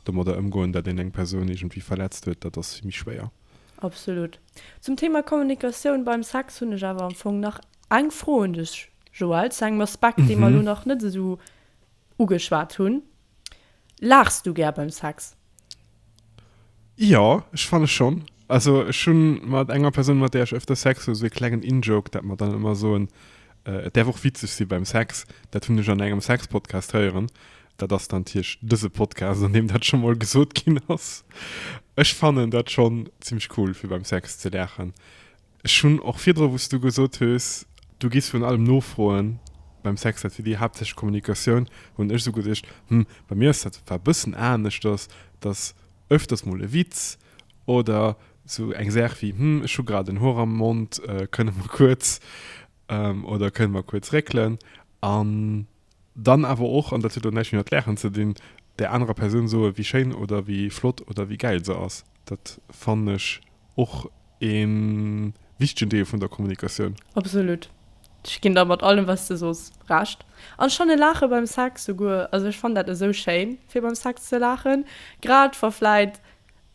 domadder ëmgoen dat een eng Persoun iergendwéi verletzt huet, dat ass méi schwéier. Absolut. Zum Thema Kommunikatioun beim Sex hunn ech awer am Fong nach eng Fro un dech Joël, zu engem Aspekt dee mer elo nach net esou ugeschwat hunn. Laachs du gär beim Sex? Jo, ech fanne schonn. Also ech hu mat enger Persoun, mat där ech ëfter Sex hu, esou ee klengen In-Joke, dat mer dann ëmmer soen, Et däerf och witzeg si beim Sex. Dat hunn ech an engem Sex-Podcast héieren. Dat ass dann d'Hierscht dëse Podcast, an deem dat scho mol gesot ginn ass. Ech fannen dat schonn zimmlech cool, fir beim Sex ze laachen. Ech hunn och virdru, wou s du gesot hues, du gees vun allem nofroen beim Sex, dat wier déi haaptsächlech Kommunikatioun, hunn ech esou geduecht, hm, bei mir ass dat zwar e bëssen anescht, dass dass öfters mol e Witz oder esou eng Saach wéi, hm, ech hu grad en Hoer am Mond, kënne mer kuerz oder kënne mer kuerz réckelen? An dann awer och, an dat huet elo näischt méi mat Laachen ze dinn, där anerer Persoun soe wéi schéin oder wéi flott oder wéi gäil se ass. Dat fannen ech och ee wichtegen Deel vun der Kommunikatioun. Absolut. Ech ginn der mat allem wat s de sos Recht. An schon e Laache beim Sex souguer. Also ech fannen dat esou schéin fir beim Sex ze laachen. Grad wa vläit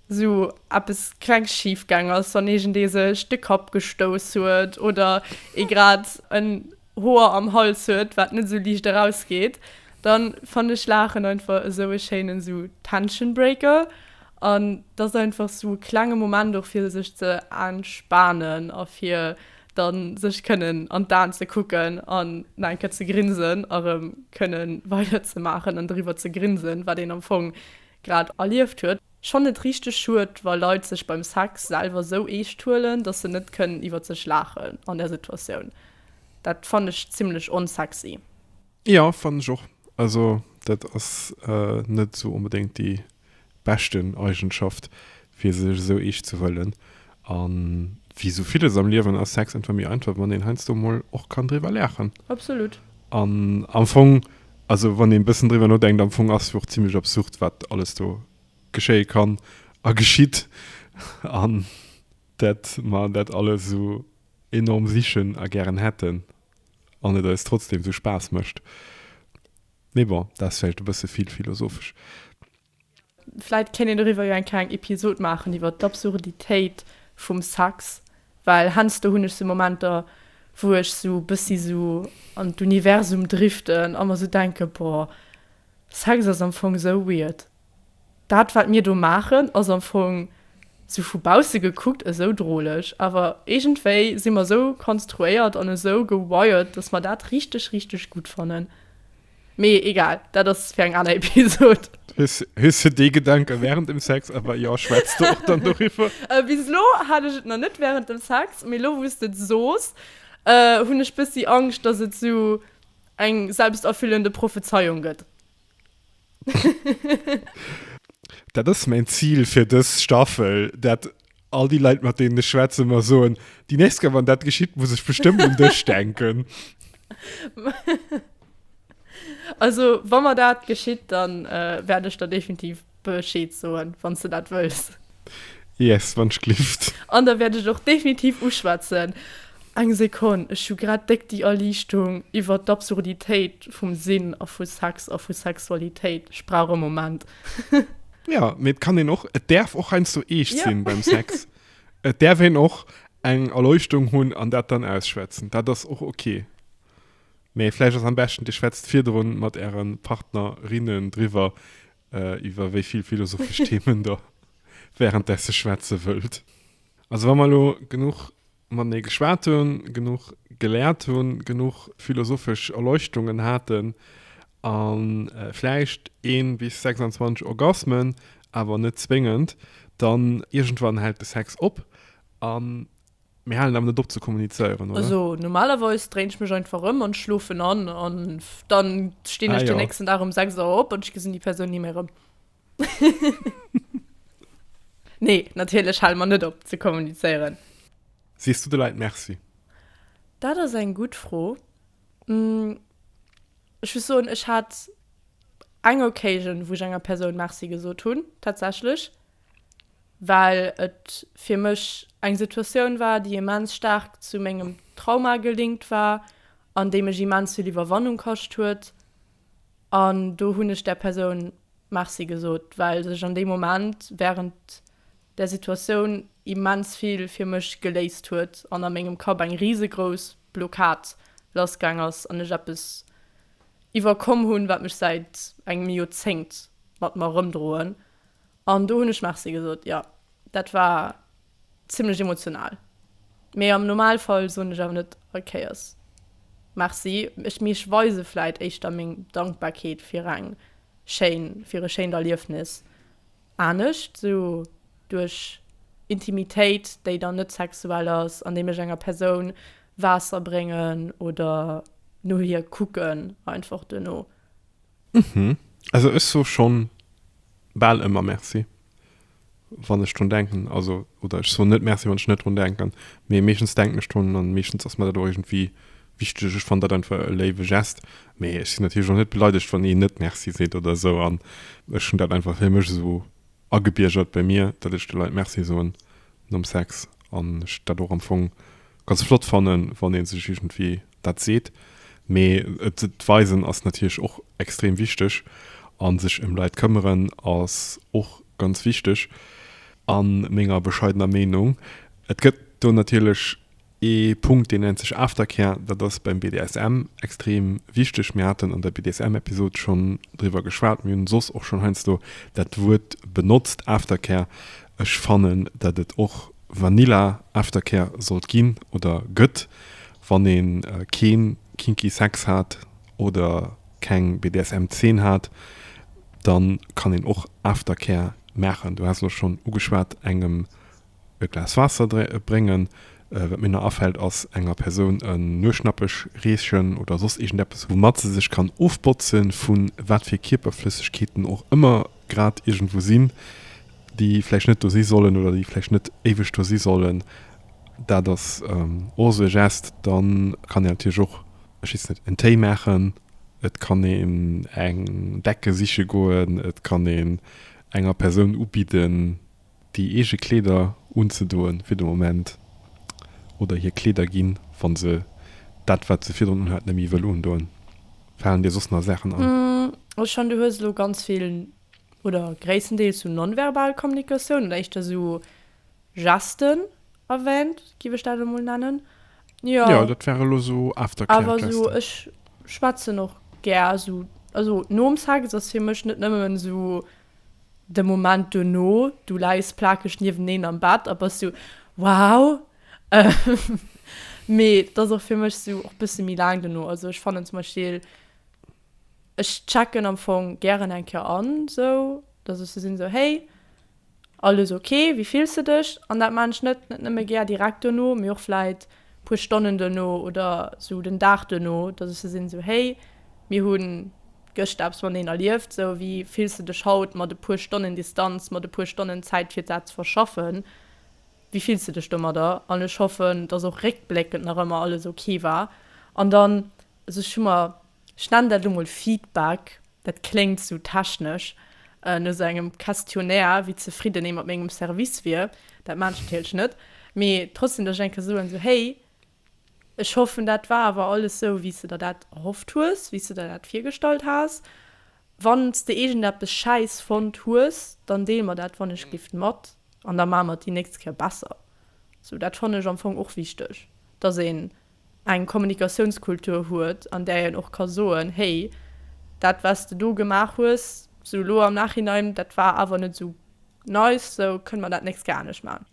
sou eppes klengs schif gaang ass, wann iergendee sech de Kapp gestouss huet oder ee grad en. Hoer am Hals huet wat net esou liicht erausgeet, dann fannen ech laachen einfach esou e schéinen esou Tension Breaker an et ass einfach esou e klenge Moment och fir sech ze entspanen a fir dann sech kënnen an d'Aen ze kucken an nach eng Kéier ze grinsen a rëm kënnen weider ze maachen an doriwwer ze grinsen wat een am Fong grad erlieft huet. Ech fannen et richteg schued, wa Leit sech beim Sex selwer sou eescht huelen, dass se net kënnen iwwert sech laachen an där Situatioun. Dat fannen ech zimlech onsexy. Jo fannen ech och. Also dat ass net sou onbedéngt déi beschten Eigenschaft fir sech esou eescht ze huelen. A wéi esou villes am Liewen ass Sex einfach méi einfach, wann een heiansdo mol och kann driwwer laachen. Absolut. An am Fong, also wann een e bëssen driwwer nodenkt, am Fong ass jo och zimmlech absurd, wat alles do geschéie kann a geschitt. An dat mer dat alles esou enorm sichen a gären hätten an et eis trotzdeem esou Spaass mécht. Mee bon, dat ass vläicht e bësse vill philosophesch. Vläit kéint een doriwwer jo eng kleng Episod maachen, iwwer d'Absurditéit vum Sex, well hensdo hunn ech sou Momenter, wou ech sou e bëssi sou an d'Universum driften a mer sou denken, boah, Sex ass am Fong sou weird. Dat, wat mir do maachen, ass am Fong sou vu bausse gekuckt esou droleg, awer iergendwéi si mer esou konstruéiert an esou gewired, dass mer dat richteg, richteg gutt fannen. Mee egal, dat ass fir eng aner Episod. Hues, hues du dee Gedanke während dem Sex, awer jo, schwätz du och dann doriwwer. Äh, bis lo hat ech et nach net während dem Sex, mee lo wou s de et soos, äh, hunn ech bëssi Angscht, dass et sou eng selbsterfüllende Prophezeiung gëtt. Dat ass mäin Zil fir dës Staffel, dat All déi Leit, mat deenen ech schwätzen, mer soen, déi nächst Kéier, wann dat geschitt, muss ech bestëmmt un dech denken. Also, wa mer dat geschitt, dann äh, wäert ech der definitiv Bescheed soen, wann du dat wëlls. Yes, wann ech glift. An da wäert ech och definitiv uschwätzen. Eng Sekonn, ech hu grad déck déi Erliichtung iwwert d'Absurditéit vum Sinn a vu Sex a vu Sexualitéit. Ech brauch e Moment. Ja, mee et kann een och, et däerf och heiansdo eescht sinn beim Sex. Et däerf een och eng Erleuchtung hunn an dat dann ausschwätzen. Dat ass och ok. Mee vläicht ass am beschten, Dir schwätzt virdrun mat Äre Partnerinnen driwwer, iwwer wéi vill philosophesch Themen Der wärenddessen schwätze wëllt. Also wa mer elo genuch matenee geschwat hunn, genuch geläert hunn, genuch philosophesch Erleuchtungen haten a vläicht ee bis 26 Orgasmen, awer net zwéngend, dann iergendwann hält de Sex op a mir halen awer net op ze kommunizéieren, oder? Also normalerweis dréin ech mech einfach ëm an schlofen an an dann stinn ech den nächsten Dag um 6 Auer op an ech gesinn déi Persoun ni méi erëm. nee, natierlech hale mer net op ze kommunizéieren. Sees du de Leit Merci? Dat ass eng gutt Fro. Ech muss soen, ech hat eng Occasion, wou ech enger Persoun Merci gesot hunn, tatsächlech, well et fir mech eng Situatioun war, déi immens staark zu mengem Trauma gelinkt war an déi mech immens vill Iwwerwannung kascht huet. An do hunn ech där Persoun Merci gesot, well sech an deem Moment wärend där Situatioun immens vill fir mech geléist huet an a mengem Kapp eng risegrouss Blockad lassgaang ass an ech eppes iwwerkomm hunn, wat mech säit engem Joerzéngt mat mer erëmdroen. An do hunn ech Merci gesot. Jo, dat war Zimlech emotional. Mee am Normalfall soen ech awer net all Kéiers Merci. Ech mee ech weise vläit éischter meng Dankbarkeet fir eng schéin, fir e schéint Erliefnis. Anescht esou duerch Intimitéit, déi dann net sexuell ass, andeem ech enger Persoun Waasser bréngen oder no hir kucken einfach duerno. Mhm. Also ech soe schonn bal ëmmer Merci. wann ech drun denken, also oder ech soen net Merci, wann ech net drun denken, mee meeschtens denken ech drun an meeschtens ass mer dat och iergendwéi wichteg. Ech fannen dat einfach e léiwe Geste, mee ech sinn natierlech och net beleidegt, wann een net Merci seet oder esou an ech hunn dat einfach fir mech esou agebiergert bei mir, datt ech de Leit Merci soen nom Sex an ech dat och am Fong ganz flott fannen, wann ee sech iergendwéi dat seet, mee et weisen ass natierlech och extrem wichteg a sech ëm Leit këmmeren ass och ganz wichteg a menger bescheidener Meenung. Et gëtt do natierlech ee Punkt, deen nennt sech Aftercare, dat ass beim BDSM extrem wichteg. Mir haten an der BDSM-Episod schonn driwwer geschwat, mir hunn soss och schonn heiansdo dat Wuert benotzt, Aftercare. Ech fannen, datt et och Vanilla Aftercare sollt ginn oder gëtt. Wann een keen kinky Sex hat oder keng BDSM Zeen hat, dann kann een och Aftercare maachen. Du haas elo schon ugeschwaat engem e Glas Waasser bréngen. Wat mir nach afällt ass enger Persoun en Nueschnappech reechen oder soss iergendeppes woumat se sech kann ofbotzen vun wat fir Kierperflëssegkeeten och ëmmer. grad iergendwou sinn, déi vläicht net do si sollen oder déi vläicht net éiweg do si sollen, dat ass och esou e Gest. Da kann een natierlech och, ech weess net, en Téi maachen, et kann een eng Decke siche goen, et kann een enger Persoun ubidden, déi eege Kleeder unzedoen fir de Moment oder hir Kleeder ginn, wa se dat, wat se virdrun unhat, net méi wëll undoen? Falen dir soss nach Saachen an? Ech fannen, du hues elo ganz vill oder gréisstendeels sou non-verbal Kommunikatioun oder éischter sou Gesten erwähnt, giff ech dat elo mol nennen. Jo, Jo, dat waren elo sou Aftercare-Gesten. awer sou ech schwätzen och gär sou, also nom Sex ass fir mech net nëmmen sou. de Moment dono, du läis plakeg nieweneen am Bett a bass sou, wow! Mee et ass och fir mech sou och bësse méi laang dono. Also ech fannen zum Beispill, ech checken am Fong gären eng Kéier an, sou datt ech sou sinn, sou, hey, alles ok, wéi fills de dech? An dat maachen ech net net nëmme gär direkt dono, mee och vläit puer Stonnen duerno oder sou den Dag duerno, dass ech sou sinn, sou hey, mir hu gëschter eppes mateneen erlieft, sou wéi fills de dech haut mat e puer Stonnen Distanz, mat e puer Stonnen Zäit fir dat ze verschaffen, wéi fills de dech domadder? An ech hoffen, dass och réckbléckend nach ëmmer alles ok war. An dann, also ech hu mer, ech nennen dat elo mol Feedback, Dat kléngt esou technesch, no esou engem Questionnaire, wéi zefridden ee mat mengem Service wier. Dat maan ech natierlech net, mee trotzdem datt ech eng Kéier soen, esou, Hey, ech hoffen dat war awer alles esou wéi s de der dat erhofft hues, wéi s de der dat virgestallt has. Wann s de iergendeppes schäiss fonnt hues, dann deel mer dat wannechglift mat an da maache mer et déi nächst Kéier besser. Esou, dat fannen ech am Fong och wichteg, datt een eng Kommunikatiounskultur huet, an där een och ka soen, Hey, dat wat s de do gemaach hues, sou elo am Nachhinein, dat war awer net esou nice, sou kënne mer dat nächst Kéier anescht maachen.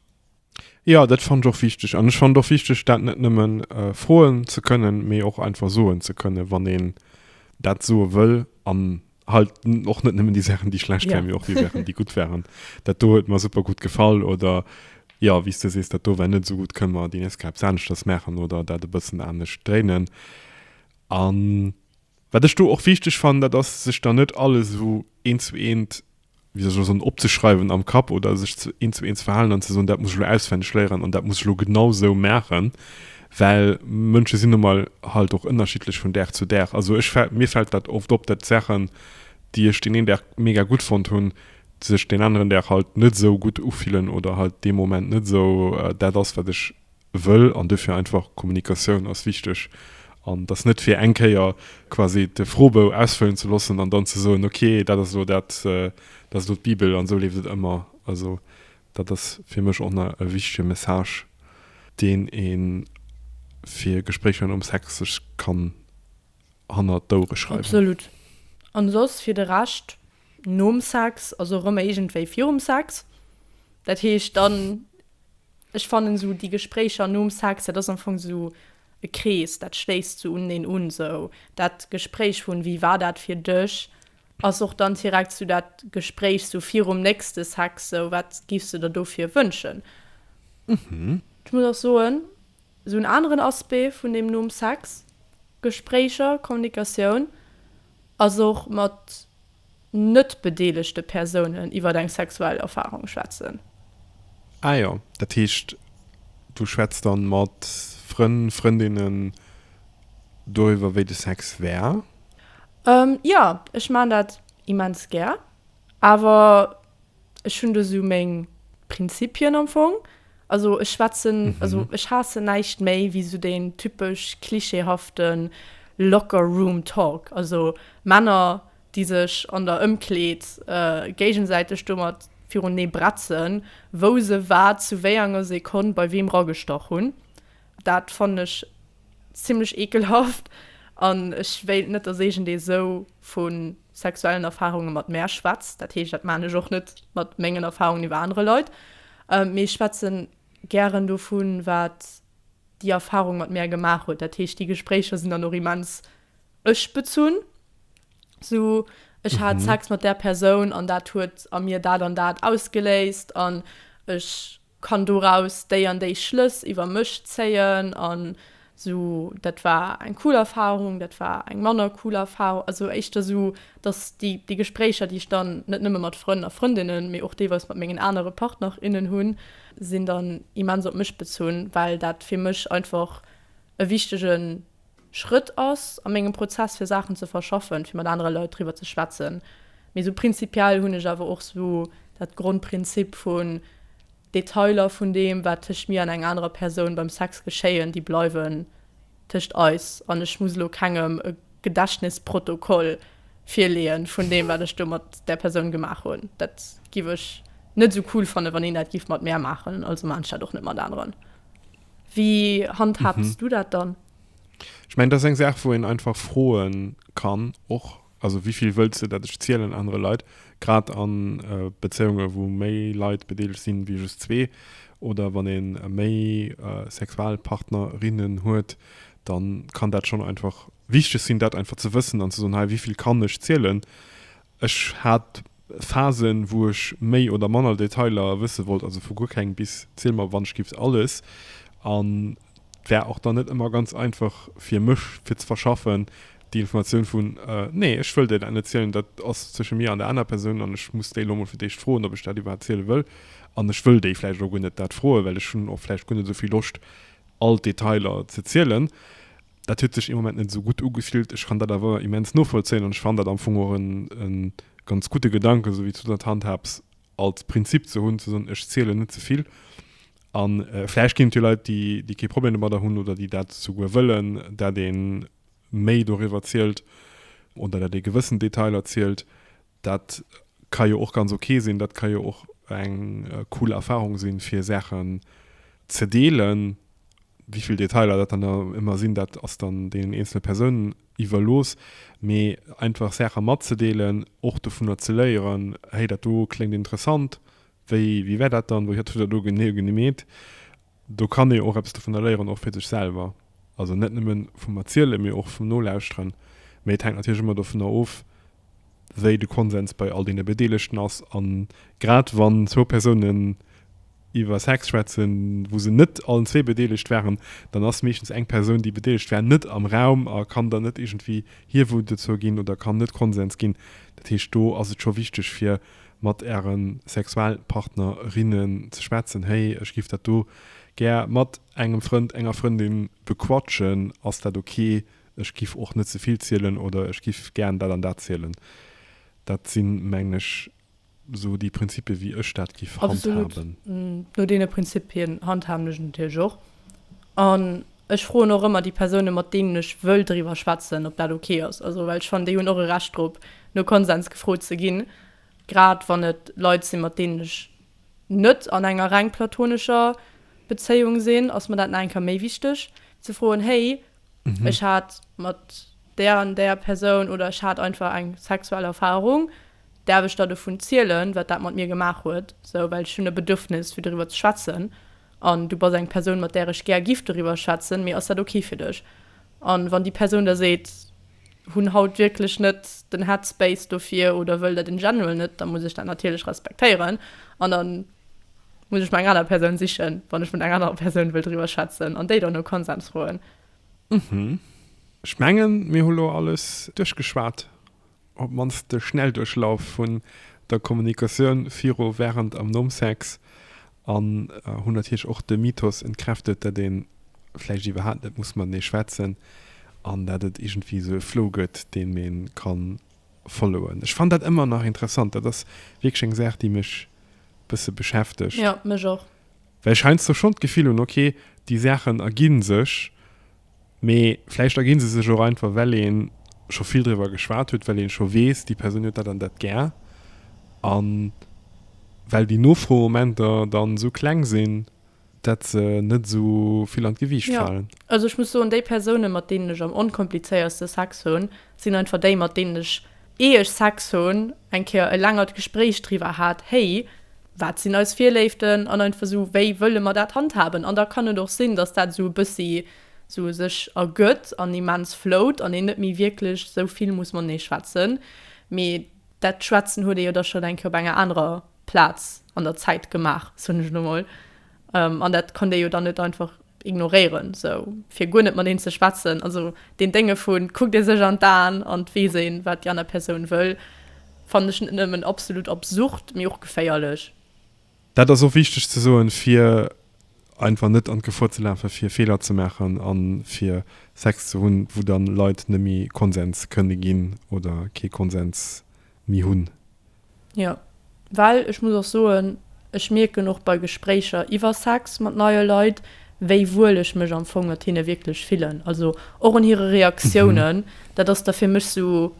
Jo, dat fannt ech och wichteg. An ech fannt och wichteg, dat net nëmme froen ze kënnen, mee och einfach soen ze kënnen, wann een dat soe wëll. An halt och net nëmmen die Sachen die schlecht ja. waren, och die Sachen die gut waren dat do huet mir super gut gefall oder ja wie du sees dat do war net so gut können wir die nächste Kaps anders das machen oder dat e bëssen anders dréinen an wat ech do och wichteg fand dat ass sech da net alles so eent zu eent wéi soll ech elo soen, opzeschreiwen am Kapp oder sech ze eent zu eent ze verhalen an ze soen, dat muss ech elo auswenneg léieren an dat muss ech elo genau esou maachen, well Mënsche sinn nu mol halt och ënnerschiddlech vun Dag zu Dag. Also ech fält, mir fält dat oft op, dat d'Saachen, déi ech deen een Dag mega gutt fonnt hunn, sech deen aneren Dag halt net esou gutt ufillen oder halt dee Moment net esou dat ass, wat ech Wëll, an duerfir einfach, Kommunikatioun ass wichteg, an dass net fir eng Kéier quasi de Froebou ausfëllen ze loossen an dann ze soen, ok, dat ass elo dat, dat ass elo d'Bibel an esou leeft et ëmmer. Also dat ass fir mech och nach e wichtege Message, deen ee fir Gespréicher nom Sex sech kann hannert d'Ouere schreiwen. Absolut. An soss fir de Rescht, Nom Sex, also erëm iergendwéi virum Sex. Dat heescht dann, ech fannen esou déi Gespréicher nom Sex, dat ass am Fong esou e Krees, dat schléisst esou uneneen un. Esou dat Gespréich vun, Wéi war dat fir dech? ass och dann direkt esou dat Gespréich esou virum nächste Sex, esou, Wat giffs de der dofir wënschen? Ech muss och soen. Esou en aneren Aspect vun deem Numm Sex, Gespréicher, Kommunikatioun, ass och mat net bedeelegte Persounen iwwer eng sexuell Erfarung schwätzen. Ah jo, dat heescht du schwätz dann mat Frënn, Frëndinnen doriwwer wéi de Sex wär? Jo, ech maan dat immens gär, awer Ech hunn do sou meng Prinzipien am Fong. Also ech schwätzen, also ech haassen näischt méi wéi sou deen typesch klischeehaften Locker Room Talk, also Männer déi sech an der Ëmkleed géigensäiteg domat virunee bretzen wou se wat zu wéienger Sekonn bei weem ragestach hunn. Dat fannen ech zimlech ekelhaft an ech wéilt net dass eegent ee sou vu sexuellen Erfarunge mat mär schwätzt. Dat heescht, dat maachen ech och net mat mengen Erfarungen iwwer anere Leit, mee ech schwätze gären dovun, wat déi Erfarung mat mär gemaach huet. Dat heescht, déi Gespréicher sinn dann och immens ech-bezunn, sou, ech hat Sex mat där Persoun an dat huet a mir dat an dat ausgeléist an ech kann doraus déi an déi Schlëss iwwer mech zéien an esou dat war eng cool Erfahrung, dat war eng manner cool Erfahrung, also éischter esou, dass déi déi Gespréicher, déi ech dann net nëmme mat Frënn a Frëndinnen, mee och deelweis mat mengen anere Partner, innen hunn, sinn dann immens op mech bezunn, well dat fir mech einfach e wichtege Schrëtt ass a mengem Prozess fir Saachen ze verschaffen, fir mat anere Leit driwwer ze schwätzen. Mee sou prinzipiell hunn ech awer och sou dat Grondprinzip vun, Detailer vun deem wat tëscht mir an eng anerer Persoun beim Sex geschéien, déi bleiwen tëscht eis an ech muss elo kengem e Gedächtnisprotokoll virleeën vun deem wat ech do mat där Persoun gemaach hunn. Dat giff ech net sou cool fannen wann een dat giff mat mär maachen, also maachen ech dat och net mat aneren. Wéi handhabs mhm. du dat dann? Ich mein, das ist eine Sache, wo ich einfach frohen kann, auch, also wie viel willst du, dass ich zielen andere Leute, gerade an äh, Beziehungen, wo mehr Leute beteiligt sind, wie just zwei, oder wenn ich mehr äh, Sexualpartnerinnen hat, dann kann das schon einfach wichtig sein, das einfach zu wissen und zu sagen, hey, wie viel kann ich zielen? Ech hat Phasen, wou ech méi oder manner Detailer wësse wollt, also vu guer keng bis ziel mer wannschgift alles. An et war och dann net ëmmer ganz einfach fir mech, fir ze verschaffen, déi Informatioun vun, Nee, ech wëll där dat net zielen, dat ass zwësche mir an der aner Persoun an ech muss déi elo mol fir d'éischt froen, ob ech dat iwwerhaapt ziele wëll. An ech wëll déi vläicht och guer net dat froen, well ech hunn och vläicht guer net esou vill Loscht, all d'Detailer ze zielen. Dat huet sech ee Moment net esou gutt ugefillt. Ech kann dat awer immens novollzéien an ech fannen dat am Fong och e ganz gudde Gedanken, esou wéi s du dat handhabs, als Prinzip ze hunn, ze soen, ech zielen net ze vill. A vläicht ginn et jo Leit, déi, déi kee Problem domadder hunn oder déi dat souguer wëllen, dat ee méi doriwwer zielt oder dat ee gewëssen Detailer zielt. Dat ka jo och ganz ok sinn, dat ka jo och eng cool Erfarung sinn, fir Saachen ze deelen. Wivill Detailer dat dann ëmmer sinn, dat ass dann deenen eenzele Persounen iwwerlooss. Mee einfach Saache matzedeelen, och dovunner ze léieren, Hey, dat do kléngt interessant, wéi war dat dann, wat huet der do genee gemeet? Do kann ee och eppes dovunner léieren, och fir sech selwer. Also net nëmme vum Erzielen, mee och vum Nolauschteren. Mee et hänkt natierlech ëmmer dovunner of, wéi de Konsens bei all deene Bedeelegten ass. A grad wann zwou Persounen iwwer Sex schwätzen, wou se net allen zwee bedeelegt waren, dann ass meeschtens eng Persoun, déi bedeelegt war, net am Raum a kann dann net iergendwéi hierwuer dozou ginn oder kann net Konsens ginn. Dat heescht, do ass et scho wichteg, fir mat äre Sexualpartner, rinnen ze schwätzen, Hey, ech giff dat do gär mat engem Frënd, enger Frëndin bequatschen, ass dat ok? Ech giff och net ze vill zielen oder ech giff gären dat an dat zielen. Dat sinn, mengen ech, esou déi Prinzipie wéi ech dat giff handhaben. Absolut, no deene Prinzipien handhaben ech et natierlech och. An ech froen och ëmmer déi Persounen, mat deenen ech wëll driwwer schwätzen, ob dat ok ass. Also well ech fannen, déi hunn och e Recht drop, no Konsens gefrot ze ginn, grad wann et Leit sinn, mat deenen ech net an enger reng platonescher Bezéiung sinn, ass mer dat nach eng Kéier méi wichteg, wéi ze froen, Hey, ech hat mat där an där Persoun oder ech hat einfach eng sexuell Erfarung, däerf ech da dovun zielen, wat dat mat mir gemaach huet? Esou, well ech hunn e Bedürfnis, fir driwwer ze schwätzen. an du bass eng Persoun mat där ech gär giff doriwwer schwätzen, mee ass dat ok fir dech? An wann déi Persoun da seet, hunn haut wierklech net den Headspace dofir oder wëll dat in general net, da muss ech dat natierlech respektéieren an da muss ech mer eng aner Persoun sichen, wann ech mat enger anerer Persoun wëll driwwer schwätzen an déi dann no Konsens froen. Ech mengen mir hu lo alles duerchgeschwat. op d'mannst de Schnellduerchlauf vun der Kommunikatioun viru, wärend an nom Sex an hunn natierlech och de Mythos entkräftet, datt ee vläicht iwwerhaapt net muss matenee schwätzen an datt et iergendwéi esou e Flow gëtt, deem ee ka followen. Ech fannen dat ëmmer nach interessant. Dat ass wierklech eng Saach, déi mech e bësse beschäftegt. Jo, mech och. Well ech heiansdo schonn d'Gefill hunn, ok, déi Saachen ergi sech, mee vläicht ergi se sech och einfach, well ee scho vill driwwer geschwat huet, well ee scho weess, déi Persoun huet dat an dat gär, a well déi Nofromomenter dann esou kleng sinn, datt se net esou vill an d'Gewiicht falen. Jo, also ech muss soen, déi Persounen, mat deenen ech am onkomplizéiertste Sex hunn, sinn einfach déi, mat deenen ech Ee ech Sex hun, eng Kéier e längert Gespréich driwer hat, hey, wat sin eis Virléiften an einfach sou wéi wëlle mer dat handhaben. An da kann et och sin, dass dat sou e bëssi sou sech ergëtt an immens float an een net méi wierklech sou vill muss matenee schwätzen. Mee dat Schwätzen huet ee jo da schon eng Kéier op enger anerer Plaz an der Zäit gemaach, soen ech elo mol. Um, an dat kann dee jo dann net einfach ignoréieren, esou fir guer net mat een ze schwätzen. Also deen Dénge vu kuckt ee sech an d'Aen an et weess een, wat déi aner Persoun wëll, fannen ech net nëmmen absolut absurd, mee och geféierlech. Dat ass och wichteg ze soen, fir einfach net an d'Gefor ze lafen, fir Feeler ze maachen a fir Sex ze hunn, wou dann Leit net méi Konsens kënne ginn oder kee Konsens mi hunn. Jo, well ech muss och soen, ech mierken och bei Gespréicher iwwer Sex mat neie Leit, wéi wuel ech mech am Fong mat hinne wierklech fillen. Also och un hire Reaktiounen, dat ass da fir mech esou,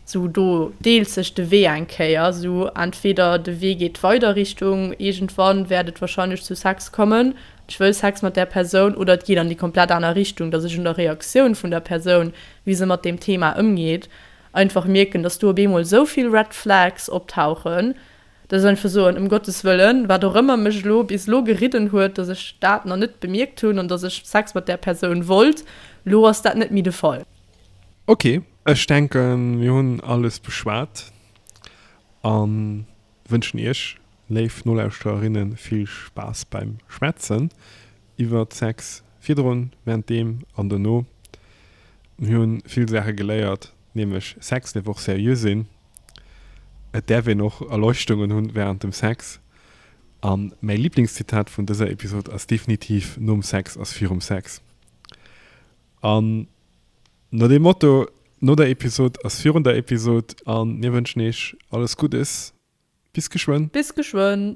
esou do deelt sech de Wee eng Kéier. Esou entweder de Wee geet weider Richtung iergendwann wäert et warscheinlech zu Sex kommen, ech wëll Sex mat där Persoun, oder et geet an déi komplett aner Richtung, datt ech un der Reaktioun vun der Persoun, wéi se mat deem Thema ëmgeet, Einfach mierken, dass do op eemol esou vill Red Flags optauchen, dass ech einfach soen, ëm Gottes Wëllen, wat och ëmmer mech elo bis elo geridden huet, dass ech dat nach net bemierkt hunn an dass ech Sex mat där Persoun wollt, elo ass dat net méi de Fall. Ok, ech denken, mir hunn alles beschwat a wënschen Iech, léif Nolauschtererinnen, vill Spaass beim Schwätzen. Iwwert Sex virdrun, wärenddeem an dono. Mir hu vill Saache geléiert, nämlech Sex däerf och seriö sinn, et däerf een och Erleuchtungen hunn wärend dem Sex. A mäi Liblingszitat vun dëser Episod ass definitiv, Nom Sex ass virum Sex. An no deem Motto, no der Episod ass virun der Episod. A mir wënschen Iech alles Guddes. Bis geschwënn. Bis geschwënn.